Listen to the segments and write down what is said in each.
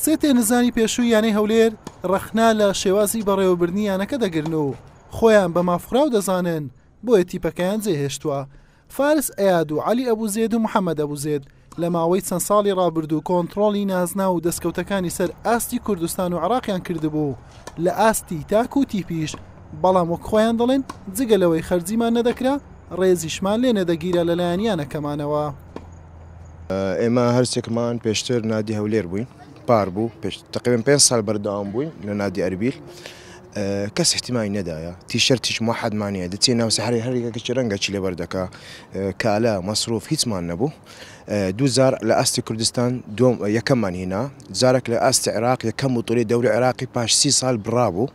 سێ تێنزانی پێشووی یانەی هەولێر ڕەخنا لە شێوازی بەڕێوەبردنی یانەکە دەگرن و خۆیان بە مافخراو دەزانن بۆیە تیپەکەیان جێهێشتووە فارس ئەیاد و علی ئەبوو زێد و محەممەد ئەبوو زێد لە ماوەی چەند ساڵی ڕابردوو کۆنتترۆڵی نازنا و دەستکەوتەکانی سەر ئاستی کوردستان و عراقیان کردبوو لە ئاستی تاک و تیپیش بەڵام وەک خۆیان دەڵێن جگە لەوەی خەرجیمان نەدەکرا ڕێزیشمان لێ نەدەگیرە لەلایەن یانەکەمانەوە. ئێمە هەرسێکمان پێشتر نادی هەولێر بووین پار بوو پێش تقریبان پێ سال بەردەوام بووین لە نادی ئەربیل کەس احتیمای نەدایە تیشەر تیش محەدمانە دەچێ ناو سەحری هەرێکە کەچ رەنگە چی لەبەر دەکا کالە مەسروف هیچمان نەبوو دووزار لە ئاستی کوردستان دوم یەکەممان هینا جارێک لە ئاستی عراق یەکەم و توری دەوری عراقی پاش سی سال بڕابوو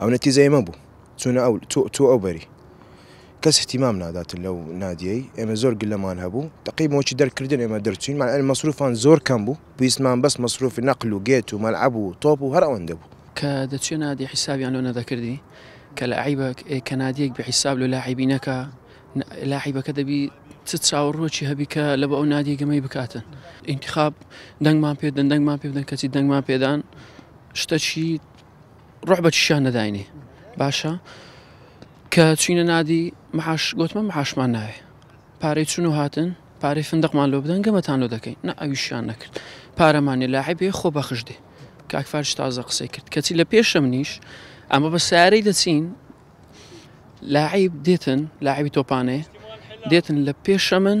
ئەو نەتیزەی مە بوو چونە ئەو تۆ ئەو بەری کەس احتیمام نادات لەو نادیەی ئێمە زۆر گلەمان هەبوو تقی مۆچی دەرکردن ئێمە دەرچین ماەر مەسروفان زۆر کەم بوو پێویستمان بەس مەسروفی نەقل و گێت و مەلعب و تۆپ و هەر ئەوەندە بوو کە دەچێ نادی حیسابیان لۆ نەدەکردی کە لە عیبە کە نادیەک بە حیساب لە لاعیبینەکە لاعیبەکە دەبی چ چاوەڕۆکی هەبی کە لە بە ئەو نادیگەمەی بکاتن انتخاب دەنگمان پێدەن دەنگمان پێدەن کەچی دەنگمان پێدان شتەکی ڕۆح بە چیشان نەداینێ باشە کە چینە نادی محاش گوتمە محاشمان ناوێ پارەی چون و هاتن پارەی فندقمان لۆ بدەن گەمەتان لۆ دەکەین نە ئەویشیان نەکرد پارەمانێ لاعی بێ خۆ بەخش دێ کاکفارش تازە قسەی کرد کەچی لە پێشم نیش ئەمە بە سارەی دەچین لاعیب دێتن لاعبی تۆپانێ دێتن لە پێشە من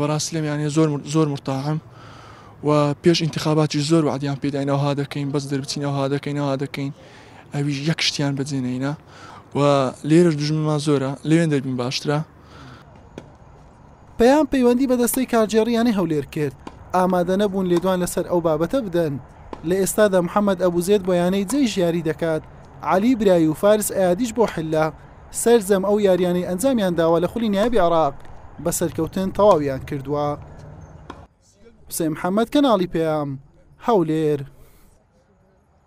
بەڕاستی لەم یانە زۆر زۆر مرتاحم و پێش انتخاباتی زۆر وعدیان پێداینەوەها دەکەین بەس دەربچینەوەها دەکەینەوە دەکەین ئەویش یەک شتیان بەجێنەینا و لێرەش دژمنمان زۆرە لەوێن دەربین باشترە پەیام پەیوەندی بە دەستەی کارگێڕیانەی هەولێر کرد ئامادە نەبوون لێدوان لەسەر ئەو بابەتە بدەن لە ئێستادا محەممەد ئەبوزێت بۆ یانەی جێی ژیاری دەکات علی برای و فارس ئایادیش بۆ حللا سەرجەم ئەو یاریانەی ئەنجامیان داوە لە خولی نایابی عراق بە سەرکەوتن تەواویان کردووە حسێن محەممەد کەناڵی پێیام هەولێر